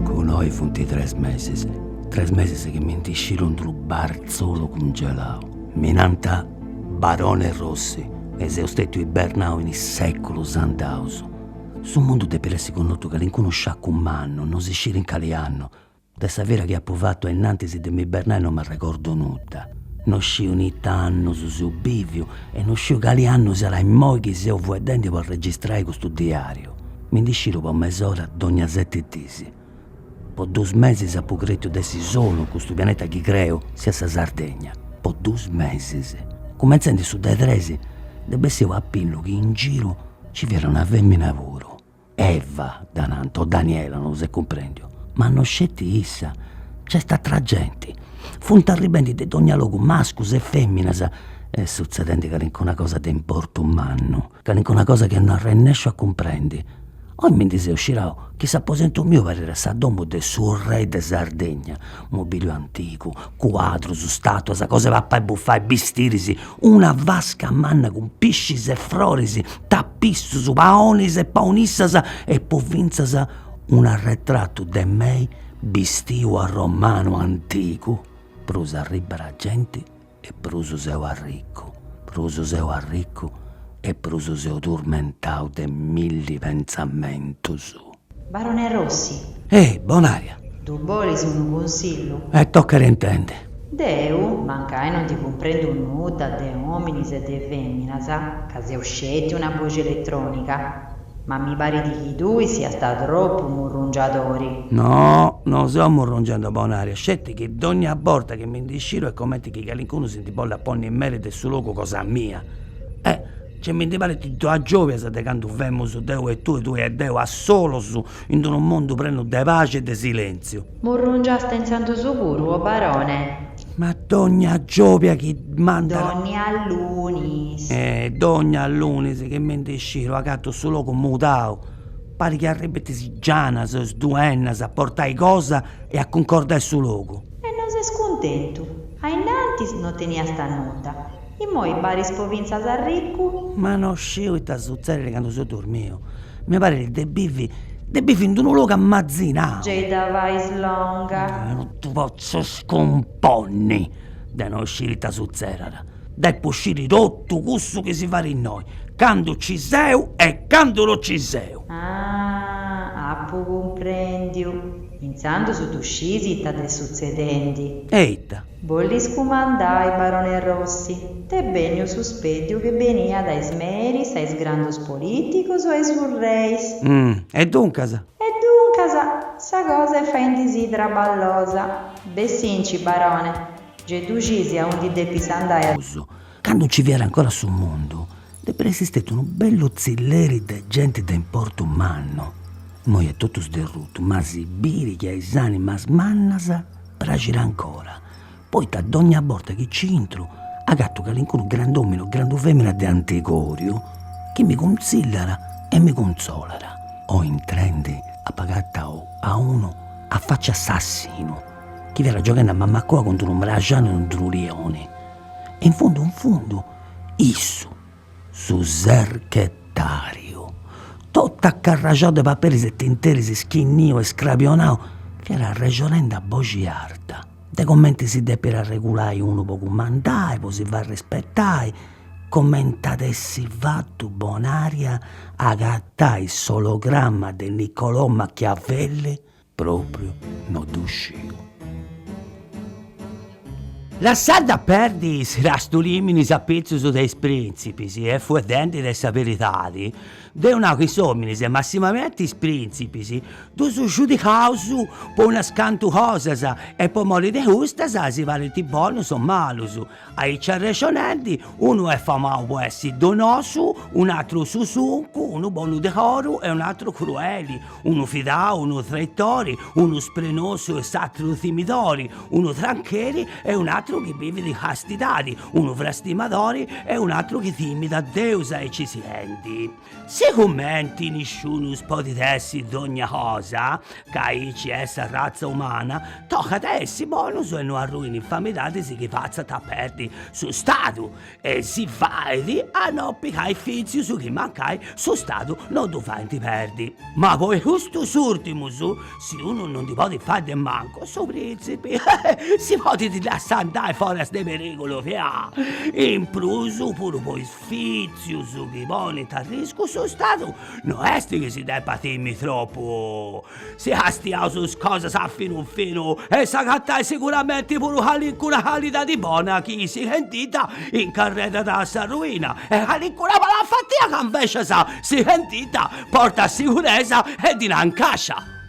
Cun oi funt tres mesis, tres mesis chi mi ndi sciru in d'unu barzolu cungelau. Mi nant Barone Rossi e seu stetiu ibernau in is seculus andaus. Su mundu depit essi connotu calincunu sciacu mannu, no si scit in cali annu. De sa vida chi apu fatu a innantis de m'ibernai no m'arregordu nudda. No sciu in ita annus seu biviu e no sciu cali annu siat immoi chi seu fueddendi po arregistrai custu diariu. Mi ndi sciru po mes'ora dogna seti dis. Po dus mesis apu cretiu de essi solu in custu pianeta chi creu siat sa Sardegna. Po dus mesis. Cumenzendi su de tres est bessiu a pillu chi in giru ci fiat una femina puru. Eva dda nant o Daniela, non s'est cumprendiu. Ma no sceti issa, nc'est atra genti. Funt arribendi de dogna logu mascus e feminas est sutzedendi calincuna cosa de importu mannu. Calincuna cosa chi no arrennesciu a cumprendi. Oi mi ndi seu scirau chi s'aposentu miu parit sa domu de su rei de Sardegna, mobiliu antigu, cuadrus, statuas, cosa 'e papai e bufai, bistiris, una vasca manna cun piscis e froris, tapissus, paonis e paonissas e po fintzas un'arretratu de mei bistiu a romanu antigu, prus arribbat genti e prus seu arricu, prus seu arricu e prus seu turmentau de milli pentzamentus. Barone Rossi! Ehi, Bonaria! Ddu bolis unu cunsillu? E tocat a intendi. Deu mancai non ndi cumprendu nudda de ominis e de feminas, ca seu sceti una boxi elettronica. Ma mi parit chi tui siast tropu murrungiadori. No, no seu murrungendi Bonaria, sceti chi dònnia borta chi mi ndi sciru est comenti chi calincunu si ndi bollat ponni in meri de su logu cosa mia. Eh! Ge mi ndi parit de is giòbias de candu femus deu e tui, tui e deu, a solus in d'unu mundu prenu de paxi e de silèntziu. Murrungiaste intzandus puru, o barone? Ma dogna giòbia chi mandat. Dogna lunis. E dogna lunis chi mi ndi sciru agatu su logu mudau, parit chi arribbint is gianas o is duennas a portai cosa e a cuncordai su logu. E non ses cuntentu? Ainnantis no teniast nudda, immoi paris po fintzas arricu? Ma no sciu ita sutzedit candu seu durmiu. Mi parit de bivi de bivi in d'unu logu ammatzinau. Gei dda fais longa. Non ti potzu scumponni de no sciri ita sutzedat. Depu sciri totu cussu chi si fait innoi, candu ci seu e candu no ci seu. Ah, apu cumprendiu. Intzandus ddu scisi ita t'est sutzedendi. E ita? Bollis cumandai, barone Rossi? T'est benniu su speddiu chi beniat a is meris, a is grandus politicus o a is urreis? Umm. E duncas? E duncas? Sa cosa est faendisì traballosa. Bessinci, barone, gei ddu scisi aundi depis andai a. Prus. Candu nci fiat ancora su mundu, depit essi stètiu unu bellu tzilleri de genti de importu mannu, immoi est totu sderrutu, ma si biri chi a is animas mannas praxit ancora, poita dogna borta chi nci intru agatu calincunu grand'omini o grandu femina de antigoriu chi mi cuntzillat e mi cuntzolat, oi intrendi apu agatau a unu a faci assassinu chi fiat gioghendi a mammacua cun d'unu mraxani e unu lioni, In fundu in fundu issu, su serchetàriu, totu acarraxau de paperis e tinteris schinniu e scrabionau, fiat arrexonende a boxi arta de comenti si depit arregulai unu po cumandai, po si fai rispetai, comenti at essi fatu Bonària a agatai s'ologramma de Niccolò Machiavelli Propriu no ddu sciu. Lassende a perdi is crastulìminis a pitzus de is printzipis e fueddende de sa beridadi, deu nau chi is ominis e massimamenti is printzipis ddus giudicaus po unas cantu cosas e po mori de custas si parint bonus o malus, Aici arrexonende, unu est famau po essi donosu, un'atru susuncu, unu bonu de coru e un'atru crueli, unu fidau, unu traitori, unu sprenosu e s'atru timidori, unu trancheri e un'atru chi bivit in castidadi, unu frastimadori e un'atru chi timit a Deus aici sighendi. Sigumenti nisciunus podit essi dogna cosa, ca aici est sa ratza umana, tocat a essi bonus e no arrui in infamidadis chi fatzant a perdi su Stadu, e si fait a no pigai fitzius chi mancai su Stadu no ddu faint perdi. Ma po custus ùrtimus, si unu no ndi podit fai de mancu, su prìntzipi si podit lassai andai foras de perìgulu, chi a in prus puru po is Fitzius chi ponint a riscu su Stadu no est chi si depat timi tropu. Si castiaus is cosas a finu finu eus a agatai siguramenti puru calincuna calidadi bona chi sighendidda incarredat a sa ruina e calincuna malafatia ca invecias sighendidda portat siguresa e dinai in cascia.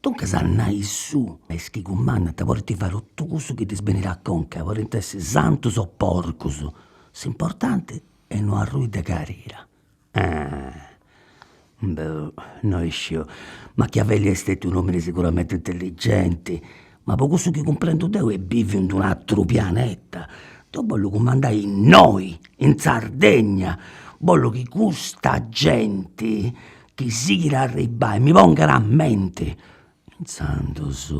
Duncas a nai suu, is chi cumandant podint fai totu cussu chi ddis benit a conca, podint essi santus o porcus, s'importanti est no arrui de carira. Boh, no isciu, Machiavelli est stetiu unu omini siguramenti intelligenti, ma po cussu chi cumprendu deu est biviu in d'unu ateru pianeta. Deu bollu cumandai innoi, in Sardegna, bollu chi custa genti chi sighit a arribbai mi pongat a menti, intzandus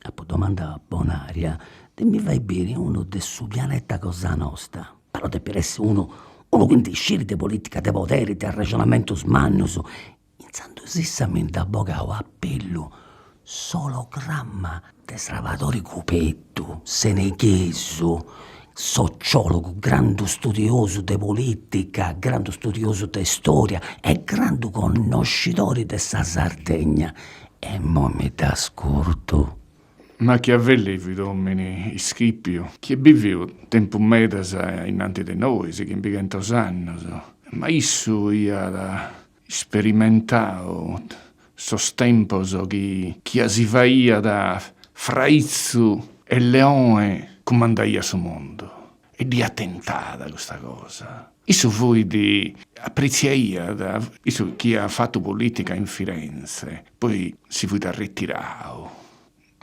apu domandau a Bonaria de mi fai biri unu de su pianeta cosa nosta, però depit essi unu unu chi ndi scit de politica de poderi e de arrexonamentus mannus, intzandus issa mi nd'at bogau a pillu s'ologramma de Srabadori Cubeddu, seneghesu, sociologu, grandu studiosu de politica, grandu studiosu de storia e grandu connoscidori de sa Sardegna. E moi mi dd'ascurtu. Machiavelli fit omini ischipiu chi est biviu tempus medas innanti de nois, chimbighentos annos, ma issu iat isperimentau sos tempos chi chia si faiat fraitzu e leone cumandaiat su mundu e dd'iat tentada custa cosa. Issu fuit, apretziaiat issu chi iat fatu politica in Firenze, poi si fuit arretirau,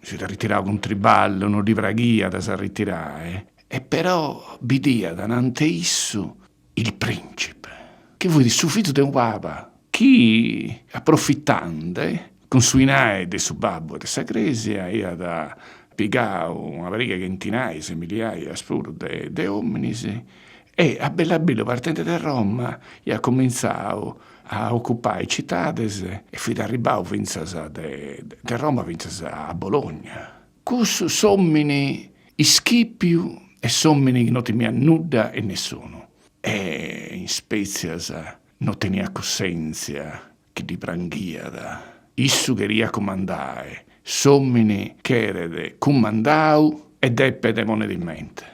si fiat arretirau cun triballu, no ddi praghiat a s'arretirai, e però bidiat anante issu il principe, chi fuit su fizu de unu papa, chi aprofitande cun su 'inai de su babbu e de sa cresia iat pigau una pariga chentinaias e miliaias puru, de ominis, E a bellu a bellu partende de Roma iat cumintzau a ocupai citades e fit arribbau fintzas de Roma fintzas a Bologna. Cussu s'omini ischipiu e s'omini chi no timiat nudda e nessunu e in spetzias no teniat cussentzia chi ddi pranghiat, issu cheriat cumandai, s'omini cheret cumandau e depet ponner in mente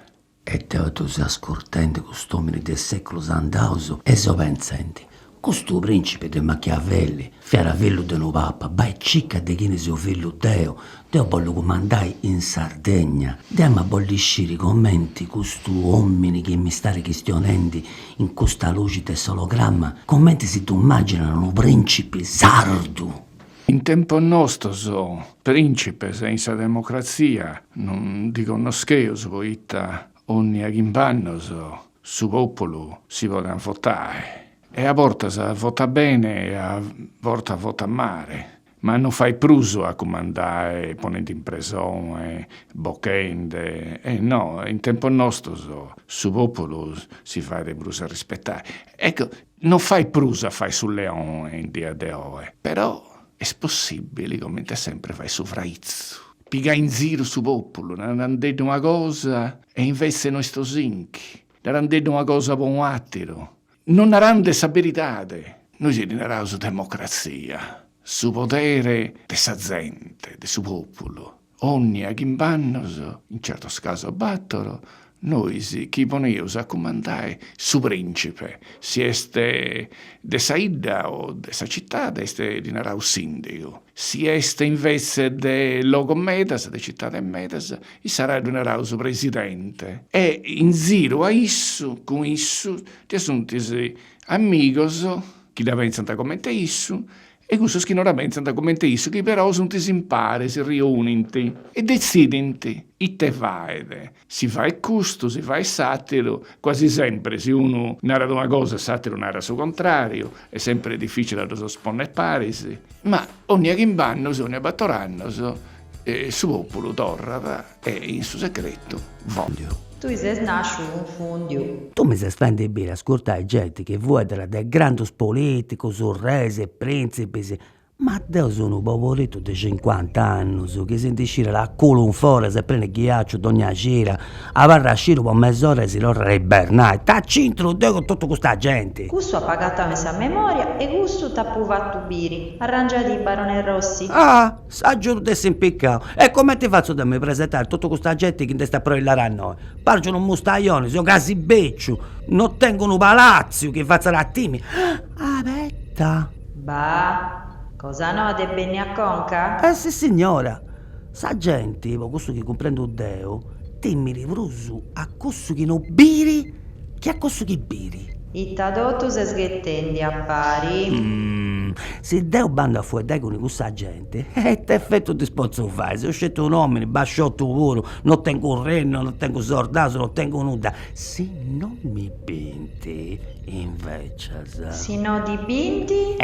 E deo ddu seu ascurtendi cust'omini de seculus andaus e seu pentzendi, Custu principi de Machiavelli fiat fillu de unu papa, bai cicca de chini seu fillu deu, deu bollu cumandai in Sardegna, deu em'a bolli sciri comenti custu omini chi m'istadi chistionendi in custa luxi de s'ologramma, comenti si ddu imaginat unu principi sardu! In tempos nostos prìncipes in sa democratzia non ndi connoscheus poita ònnia chimb'annos su pòpulu si podet votai e a bortas votat bene e a bortas votat male, ma non fait prus a cumandai ponende in presone, bochende, e no, in tempos nostos su pòpulu si fait prus arrispetai. Ecco, Non fait prus a fai su leone in die de oe, però est possibili comente sempre fai su fraitzu. Pigai in ziru su populu, narandeddi una cosa e invece no est osinchi, narandeddi una cosa po unu atteru, no narande sa beridade. Nois ddi naraus democrazia, su podere de sa zente, de su populu. Onnia chimb'annos, in certos casos batoro, nois chi poneus a cumandai su principe, si est de sa 'idda o de sa citade, est ddi naraus sindigu, si est invece de logos medas, de citades medas, issara ddi naraus presidente. E in ziru a issu, cun issu, ddue sunt is amigos chi dda pentzant comente issu e cussos chi no dda pensant comente issu chi però sunt impare si riunint e detzidint ite faet, si faet custu, si faet s'àteru, quasi sempre si unu narat una cosa e s'àteru narat su contràriu, est sempre dificile a ddos ponner paris, ma onnia chimbe annos e onnia bator annos su pòpulu torrat. E in su secretu fòndiu. Tui ses nàsciu cunfùndiu. Tui mi ses fendi biri a ascurtai genti chi fueddat de grandus polìticus, reis e prìntzipis, ma deu seu unu poboritu de cincuant'annus chi si ndi scirat a culu in foras e prenu de ghiaciu dogna cira, abarrat sciru po mes'ora e si torrat a ibernai, ita c'intru deu cun totu custa genti! Cussu apu agatau in sa memoria e cussu t'apu fatu biri, arrangiadì Barone Rossi. Ah! Su buginu dd'essit impiccau. E comenti fatzu deu a mi presentai a totu custa genti chi nd'est aproillada a innoi? Pargiu unu mustaioni, seu casi beciu, no tengu unu palatziu chi fatzat a timi. Abeta! Bah! Cosa noa t'est bènnia a conca? Eh, sissignora! Sa genti, po cussu chi cumprendu deu, timiri prus a cussu chi no biri Chi a cussu chi biri. Ita totu ses ghetendi a pari. Si deu bandu a fueddai cun cussa genti, e ita efetu ddis potzu fai, seu sceti un'omini basciotu puru, no tengu rennu, no tengu sordaus, no tengu nudda, si no mi binti invecias. Si no ti binti?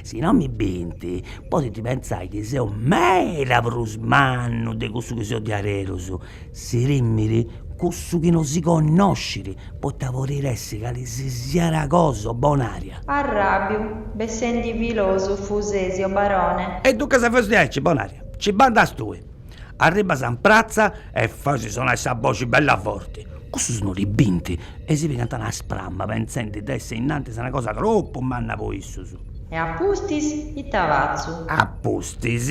Si no mi binti, podint pentzai chi seu meda prus mannu de cussu chi seu diaderus Si timit cussu chi no si connoscit, poita podit essi cali si siat cosa, Bonària. Arràbiu, bessendi filòsofu ses, o barone. E duncas faus diaici, Bonària, ci bandas tui. Arribbas in pratza e fais sonai sa boxi bella forti. Cussus no ti binti e si pigant una spramma pentzendi de essi innantis una cosa tropu manna po issus. E a pustis ita fatzu? A pustis,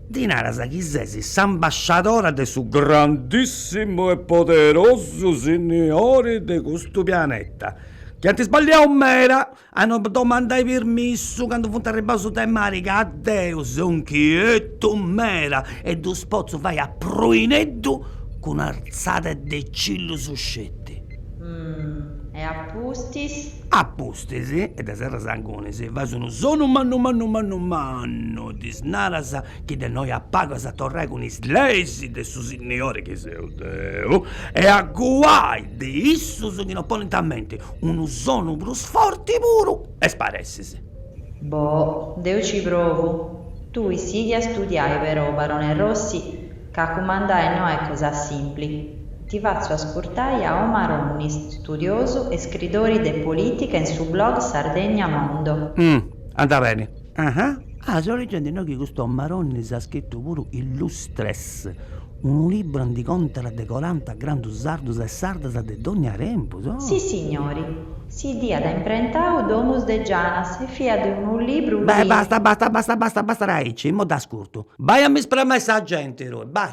Ddis naras chi ses s'ambasciadora de su grandissimu e poderosu signori de custu pianeta, chi ant isballiau meda a no domandai pirmissu candu funt arribbaus de mari ca deu seu inchietu meda e ddus potzu fai a pruineddu cun un'artzada de cillus sceti. Mh. E a pustis? A pustis? Pustis e de serras angunis fais unu sonu mannu mannu mannu mannu, ddis naras chi de innoi a pagu as a torrai cun is leis de su Signori chi seu deu e a guai de issus chi no ponint a menti, unu sonu prus forti puru e sparessis. Boh, deu ci provu. Tui sighi a studiai però, barone Rossi, Ca cumandai no est cosa simpli. Ti fatzu ascurtai a Omar Onnis, studiosu e scridori de politica in su blog Sardegna Mondo. Umm. Anda beni. Aha. Ah, seu legendi innoi chi custu Omar Onnis at scritu puru Illustres, unu libru aundi contat de coranta grandus sardus e sardas de dogna tempus. Oh. Sissignori. Si dd'iat imprentau Domus de Janas e fiat unu libru chi. Beh, basta, basta, basta, basta, basta de aici, immoi dd'ascurtu. Bai a mi sprammai sa genti tui, bai.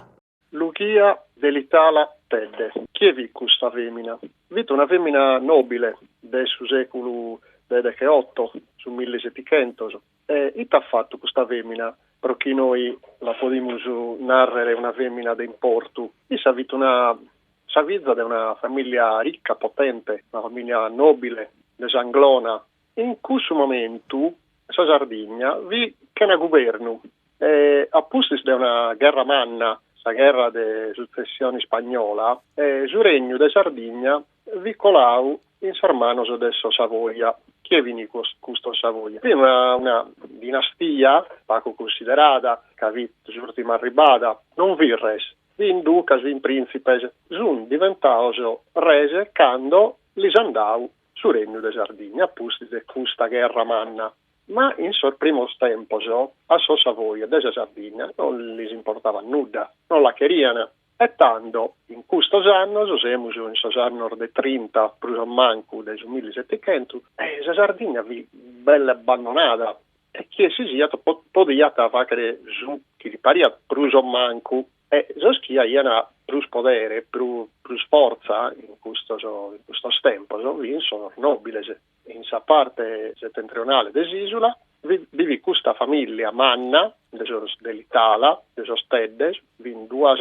Luchia Delitala Tedde, chie fit custa femina? Fit una femina nobile de su seculu de deche otto, su milli setichentos. E it'at fattu custa femina pro chi nois la podimus narrere una femina de importu? Issa fit una sa fiza de una familia ricca, potente, una familia nobile de s'Anglona, In cussu momentu sa Sardigna fit chena gubernu e a pustis de una gherra manna, sa gherra de sutzessione ispagnola, su regnu de Sardigna fit colau in sas manos de sos Savoia. Chie fin custos Savoia? Fit una dinastia pagu cunsiderada ca fit s'ùrtima arribada, non fin res, fin ducas, fin prìntzipes, sunt diventaos res cando lis an dau su Regnu de Sardigna a pustis de custa gherra manna. Ma in sos primos tempos a sos Savoia de sa Sardigna non lis importabat nudda, non la cherian. E tando, in custos annos, semus in sos annos de trinta prus o mancu de su millisetichentu, sa Sardigna fit belle abbandonada e chie si siat podiat fàghere su chi li pariat prus o mancu. E sos chi aian prus podere, prus fortza in custos in custos tempos fin sos nòbiles. In sa parte setentrionale de s'ìsula bi fit custa famìllia manna de sos Delitala, de sos Teddes, fin duas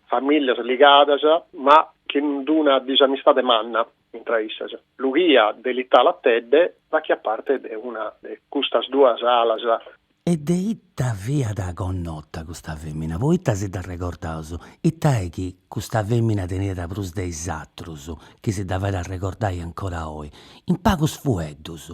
famìllias ligadas ma chin una disamistade manna. Intra issas, Lughia Delitala Tedde fachiat parte de una de custas duas alas. E de ita fiat connota custa femina? Po ita si dda regordaus? Ita est chi custa femina teniat prus de is atrus chi si dda fait arregordai ancora oi? In pagus fueddus,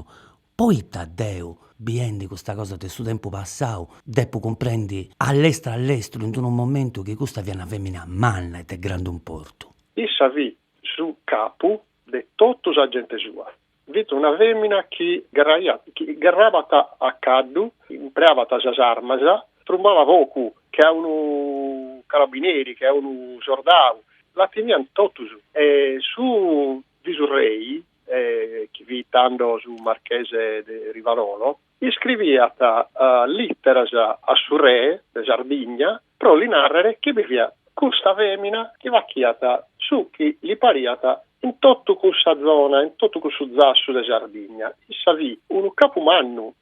po ita deu, biendi custa cosa de su tempus passau, depu cumprendi a lestru a lestru in d'unu momentu chi custa fiat una femina manna e de grandu importu? Issa fit Su capu de totu sa gente sua fit una femina chi gherrabat a caddu, impreabat sas armas, trumbabat focu che a unu carabineri, che a unu sordau, la timiant totus. E su visurrei, chi fit tando su marchese de Rivarolo, Iscriviat lìteras a su re de Sardigna pro li nàrrere chi bi fiat custa fèmina chi fachiat su chi li pariat in totu cussa zona, in totu cussu zassu de Sardigna. Issa fit unu capu mannu,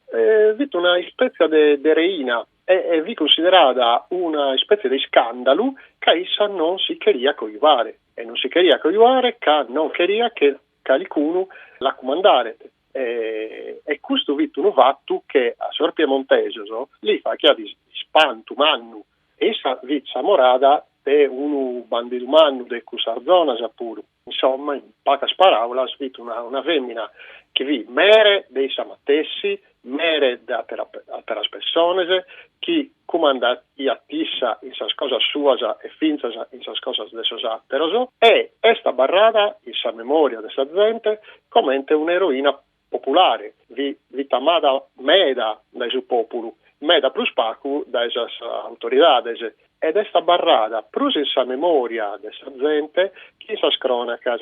fit una ispètzia de reina e fit cunsiderada una ispètzia de iscàndalu ca issa non si cheriat cojuare e non si cheriat cojuare ca non cheriat che calicunu la cumandaret e custu fit unu fatu che a sos piemontesos lis faghiat ispantu mannu e issa fit s'amorada de unu bandidu mannu de cussas zonas puru. Insomma, in pagas paràulas, fit una fèmina chi fit mere de issa matessi, mere de àteras persones, chi cumandaiat issa in sas cosas suas e fintzas in sas cosas de sos àteros, e est abarrada in sa memòria de sa zente comente un'eroina populare, fit amada meda dae su pòpulu, meda prus pagu dae sas autoridades, ed est abarrada prus in sa memòria de sa zente chi in sas crònacas.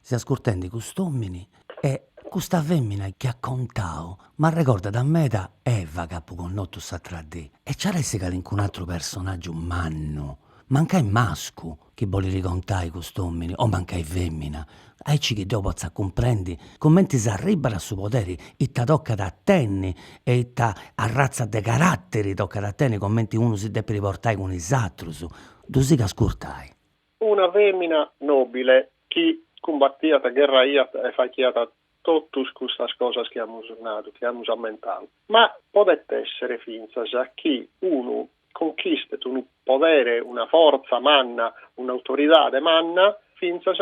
Si ascurtendi cust'omini e custa femina chi at contau m'arregordat meda Eva ch'apu connotu s'atra dì e ci at a essi calincun'atru personaggiu mannu, mancai mascu, chi bolit contai cust'omini o mancai femina, aici chi deu potza cumprendi cumenti s'arribat a su poderi ita tocat a tenni e ita arratza de caratteri tocat a tenni cumenti unu si depit portai cun is atrus. Ddu sigu a ascurtai. Una fèmina nòbile chi cumbatiat, gherraiat e faghiat totus custas cosas chi amus nadu, chi amus ammentadu. Ma podet èssere fintzas chi unu conchistet unu podere, una fortza manna, un'autoridade manna, fintzas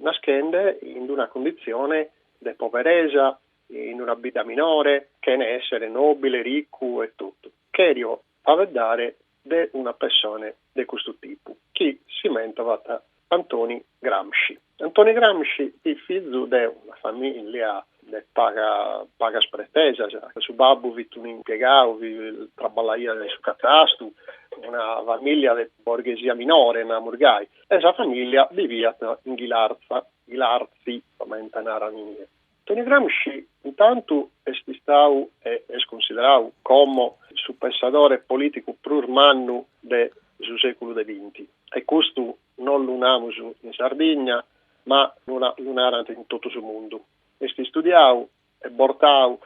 naschende in una cunditzione de poberesa, in una bidda minore, chene èssere nòbile, ricu e totu. Cherio faeddare de una pessone de custu tipu, chi si mentovat Antoni Gramsci. Antoni Gramsci fit fizu de una famìllia de paga pagas pretesas, su babbu fit unu impiegau chi traballaiat in su catastu, una famìllia de borghesia minore, namus gai, e sa famìllia biviat in Ghilarza, Ghilartzi comente naran inie. Toni Gramsci, intantu, est istau e est cunsiderau como su pensadore politicu prus mannu de su seculu de binti, e custu non lu namus in Sardigna, ma lu narant in totu su mundu. Est istudiau e bortau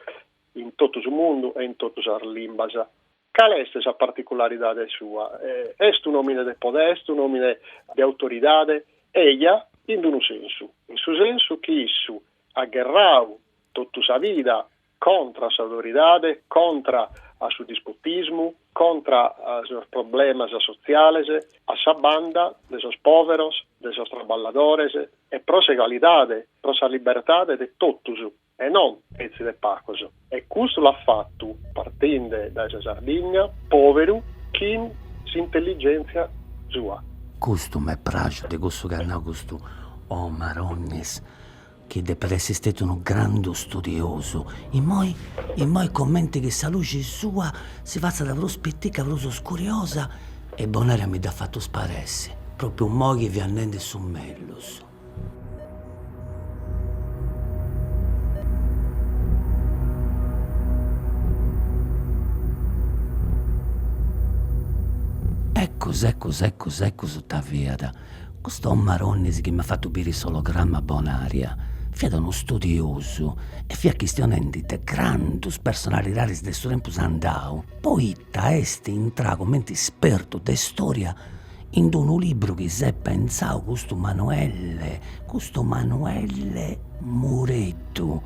in totu su mundu e in totu sas limbas. Cale est sa particularidade sua? Est un'òmine de podere, est un'òmine de autoridade? Eja, in d-unu sensu, in su sensu chi issu at gherrau totu sa vida contra a s'autoridade, contra a su dispotismu, contra a sos problemas sotziales, a sa banda de sos pòveros, de sos traballadores e pro s'egalidade, pro sa libertade de totus. e non petzi de pagos, e custu l'at fatu, partinde dae sa Sardigna, pòberu, chin s'intelligèntzia sua. Custu m'est pràxiu de cussu chi at nau custu Omar Onnis, chi depit essi stetiu unu grandu studiosu, immoi immoi comenti chi sa luxi sua si fatzat prus pitica, prus scuriosa, e Bonaria mi dd'at fatu sparessi, pròpriu immoi chi fiat nendi su mellus. Eccus eccus eccus eccus ita fiat custu Omar Onnis chi m'at fatu biri s'ologramma Bonaria, fiat unu studiosu e fiat chistionendi de grandus personalidadis de su tempus andau, poita ca est intrau comente ispertu de istoria in d'unu libru chi s'est pentzau custu Manuelle, custu Manuelle Mureddu,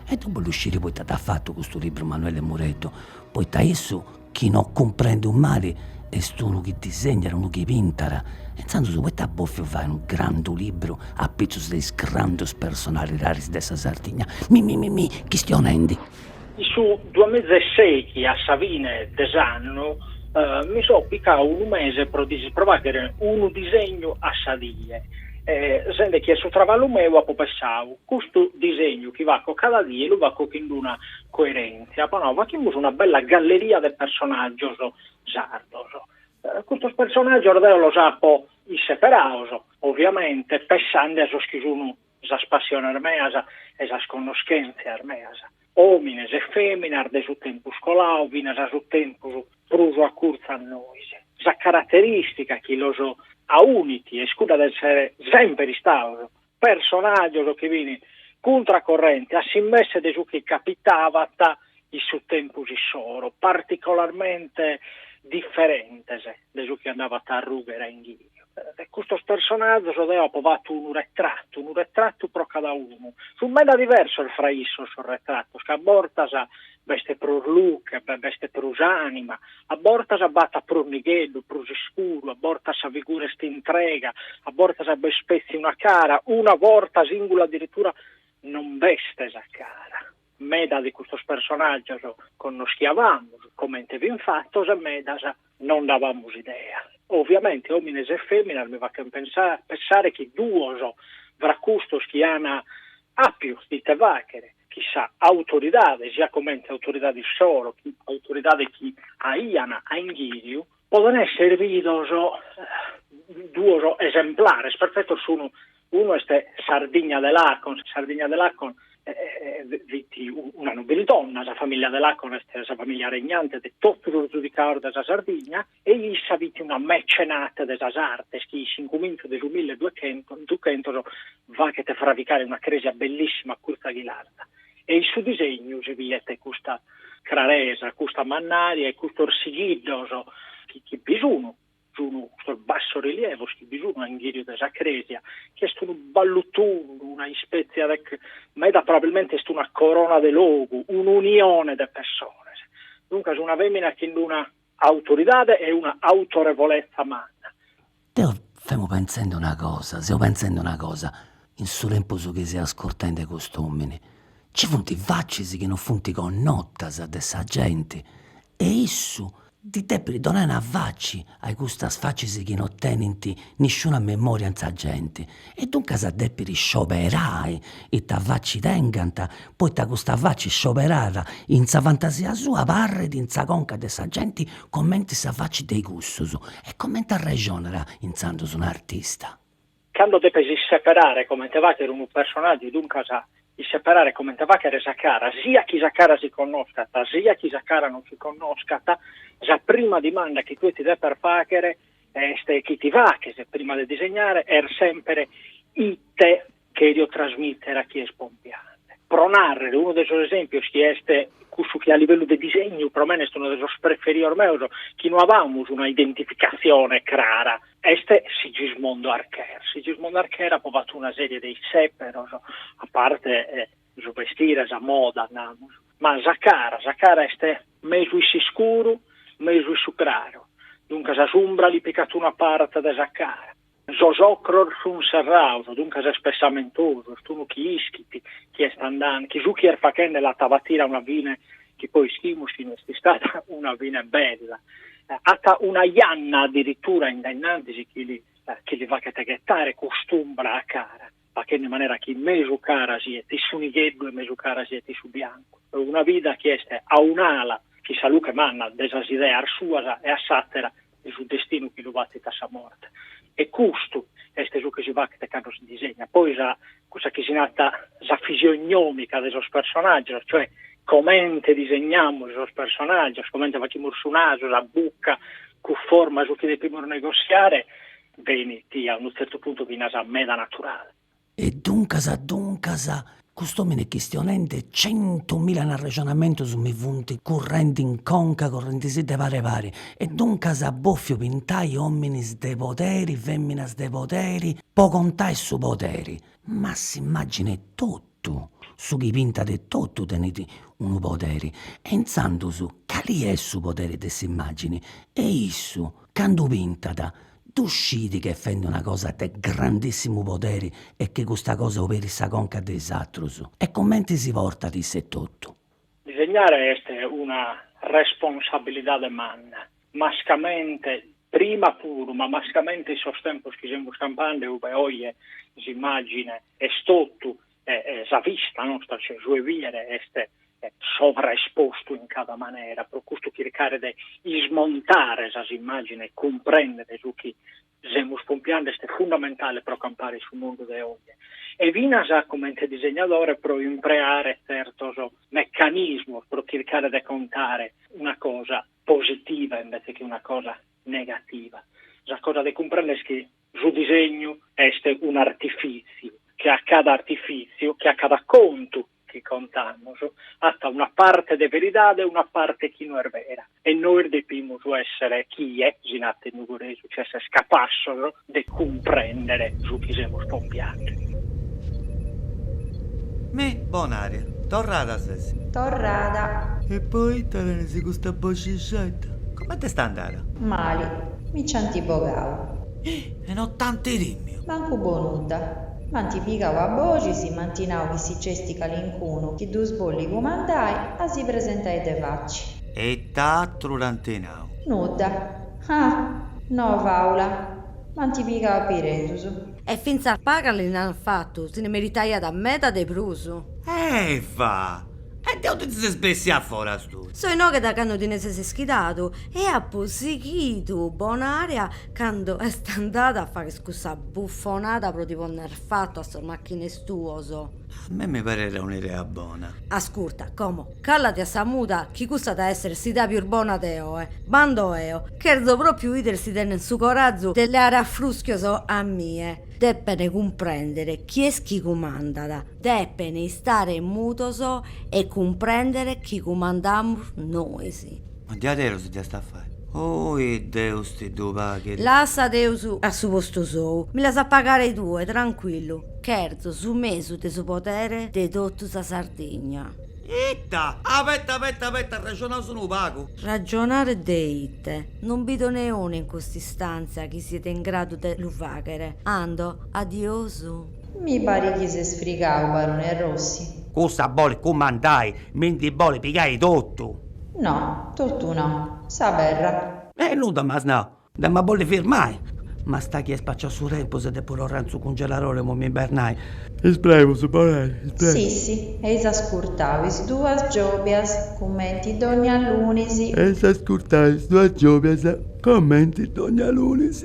e deu bollu sciri poita dd'at fatu custu libru Manuelle Mureddu, poita issu chi non cumprendu mali est unu chi disegnat, unu chi pintat, e intzandus poita at bòfiu fai unu grandu libru apitzus de is grandus personalidadis de sa Sardigna, mi mi mi mi chistionendi In su duamiza e seichi a sa fine de s'annu mi so picau unu mese pro dise pro facher unu disegnu a sa die e sende chi est su traballu meu apo pessau, custu disegnu chi faco cada die lu faco chin d'una coerentzia, apo nau fachimus una bella galleria de personaggios sardos, custos personaggios deo los apo isseperados, oviamente, pessende a sos chi sun sas passiones meas e sas connoschèntzias meas, òmines e fèminas de su tempus coladu finas a su tempus prus acurtzu a nois. Sa caraterìstica chi los aunit est cudda de èssere semper istados personàgios chi fin cuntra corrente a s'immesse de su chi capitabat in su tempus issoro, particolarmente diferentes de su chi andabat a arrùghere a inghìri. De custos personàgios deo apo fatu unu retratu, unu retratu pro cada unu. Sunt meda diversos fra issos sos retratos, ca a bortas b'est prus luche, b'est prus ànima, a bortas b'at prus nigheddu, prus iscuru, a bortas sa figura est intrega, a bortas b'est petzi una cara, una borta sìngula addirittura non b'est sa cara. Meda de custos personàgios connoschiabamus, comente fin fatos, e medas non nd'abamus idea. Òviamente òmines e fèminas mi fachent pensare chi duos fra custos chi ant àpiu de ite fàchere, chin sa autoridade, siat comente autoridade issoro, che autoridade chi aiant a inghìriu, Podent èssere bidos duos esemplares perfetos, sunt unu est Sardigna de Lacon, Sardigna de Lacon fit una nobildonna, sa famìllia de Lacon est sa famìllia regnante de totu sos zudicados de sa Sardigna e issa fit una mecenate de sas artes chi in cumintzu de su milleduchentos faghet fravicare una crèsia bellissima acurtzu a Ghilarza e in su disegnu si biet custa craresa, custa mannària e custos sigillos chi bi sun, sun custos bassorilievos chi bi sun a inghìriu de sa crèsia, chi est unu ballutundu, una ispètzia de, meda probabilmente est una corona de logu, un'unione de pessones, duncas una fèmina chin una autoridade e una autorevolezza manna. Deo femo pentzende una cosa, seu pentzende una cosa, in su tempus chi seu ascurtende cust'omini, ci funt facis chi non funt connotas de sa genti e issu ddis depit donai una faci a custas facis chi non tenint nisciuna memoria in sa genti, E duncas at dèpiu scioberai ita faci tengant, poita custa faci scioberada in sa fantasia sua barrit in sa conca de sa genti cumenti sa faci de cussus. E cumenti arrexonat intzandus un'artista? Candu depis isseperare cumenti faghere unu personàgiu, duncas isseperare cumenti faghere sa cara, siat chi sa cara si connoscat, siat chi sa cara non si connoscat, sa prima dimanda chi tue ti depes faghere Est chi ti faghes, prima de disegnare, est semper ite cherio trasmitter a chie est pompiante. Pro narrer unu de sos esempios chi est cussu chi a livellu de disegnu pro mene est unu de sos preferios meos, chi no amus una identificazione crara, est Sigismondo Archer. Sigismondo Archer apo fattu una serie de isseperos, a parte su bestire, sa moda, namus, ma sa cara, sa cara est mesu in s'iscuru, mesu in su craru, duncas s'umbra li picat una parte de sa cara. Sos ocros sun serrados, duncas est pessamentosu, est unu chi ischit chi est andande, chi su chi est faghende l'at a batire a una fine chi poi ischimus chi no est istada una fine bella. At una janna addirittura in de innantis chi li chi li faghet ghetare cust'umbra a cara. faghende in manera chi mesu cara siet in su nigheddu e mesu cara siet in su biancu, una vida chi est a un'ala chin sa luche manna de sas ideas suas e a s'àtera de su destinu chi lu batit a sa morte. E custu est su chi si faghet cando si disegnat poi sa, cussa chi si narat sa fisiognòmica de sos personàgios, cioè comente disegnamus sos personàgios, comente faghimus su nasu, sa buca, cunforma a su chi depimus negossiare, Benit a unu tzertu puntu finas meda naturale. E duncas, duncas, cust'omini est chistionendi centu mila arrexonamentus mi funt currendi in conca, currendisi de pari pari. E duncas at bòfiu pintai ominis de poderi, feminas de poderi, po contai su poderi. Ma s'immagini etotu. Su chi pintat totu tenit unu poderi e intzandus cali est su poderi de s'immàgini e issu candu pintat ddu scit chi est fendi una cosa de grandissimu poderi e chi custa cosa oberit sa conca de is atrus e cumenti si portat issa etotu. Disegnare est una responsabilidade manna, mascamente, prima puru, ma mascamente in sos tempos chi semus campende, ue oje s'immàgine est totu e sa vista nostra, cioè su 'e bìere, est sovraespostu in cada manera, pro custu chircare de ismontare sas immàgines e cumprèndere su chi Semus pompiende est fundamentale pro campare in su mundu de oe e finas comente disegnadore pro impreare tzertos mecanismos pro chircare de contare una cosa positiva invece chi una cosa negativa. Sa cosa de cumprender est chi su disegnu est un'artifìtziu, che a cada artifìtziu, che a cada contu chi contamus at una parte de veridade e una parte chi no est vera e nois depimus èssere chie, si nat in nugoresu, ch'èssere capassos de cumprèndere su chi semus pompiande. Mi, Bon'ària, torrada ses. Torrada. E poita tenes custa boxixedda? Comente est andada? Mali. Mi nci ant bogau. E no t'ant timiu? Mancu po nudda. M'ant pigau a boxis e m'ant nau chi si nc'est calincunu chi ddus bollit cumandai a si presentai de faci. E ita atru ant nau? Nudda. Ah! No, faula. M'ant pigau a piridus. E fintzas pagu li nd'ant fatu, si ndi meritaiat meda de prus. Eva! E de aundi ses bessia a foras tui? So inoghe da candu ti ndi ses ischidadu e apu sighidu bon'ària Cando est andada a fagher cussa buffonada pro ti ponner fattu a sos macchines tuos. A mei mi pariat un'idea bona. Asculta, como, callati a sa muda chi custa at a esser s'idea pius bona de oe. B'ando eo. Cherzo propriu 'idere si tenen su coràgiu de leare a fruschios a mie. Depen cumprender chi est chi cumandat. Depen istare mudos e cumprender chi cumandamus nois. Ma diaderus dd'iast a fai. Oi Deus ti ddu paghet. Lassa Deus a su postu sou. Mi l'as a pagare tue, trancuillu. Cherzo su mesu de su podere de totu sa Sardigna. Ita? Abeta abeta abeta, arrexonaus unu pagu. Ragionare de ite? Non bido neunu in cust'istantzia chi siet in gradu de lu faghere. Ando, adiosu. Mi parit chi ses frigau, barone Rossi. Cussa bolit cumandai, mi ndi bolit pigai totu. No, totu no. Sa perra. E nudda m'as nau, da! M'at a bolli firmai. Mancu mali chi est spaciau su tempus e depu torrai in su cungeladori a m'imbernai. Ispereus, barone, ispereus. Sissi, eis a scurtau is duas giobias cumenti dogna lunis. Eis a scurtau is duas giobias cumenti dogna lunis.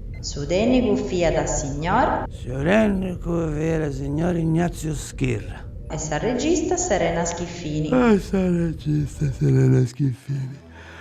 Su tènnicu fiat signor. Su tènnicu fiat signor Ignazio Schirru. E sa regista Serena Schiffini. E sa regista Serena Schiffini.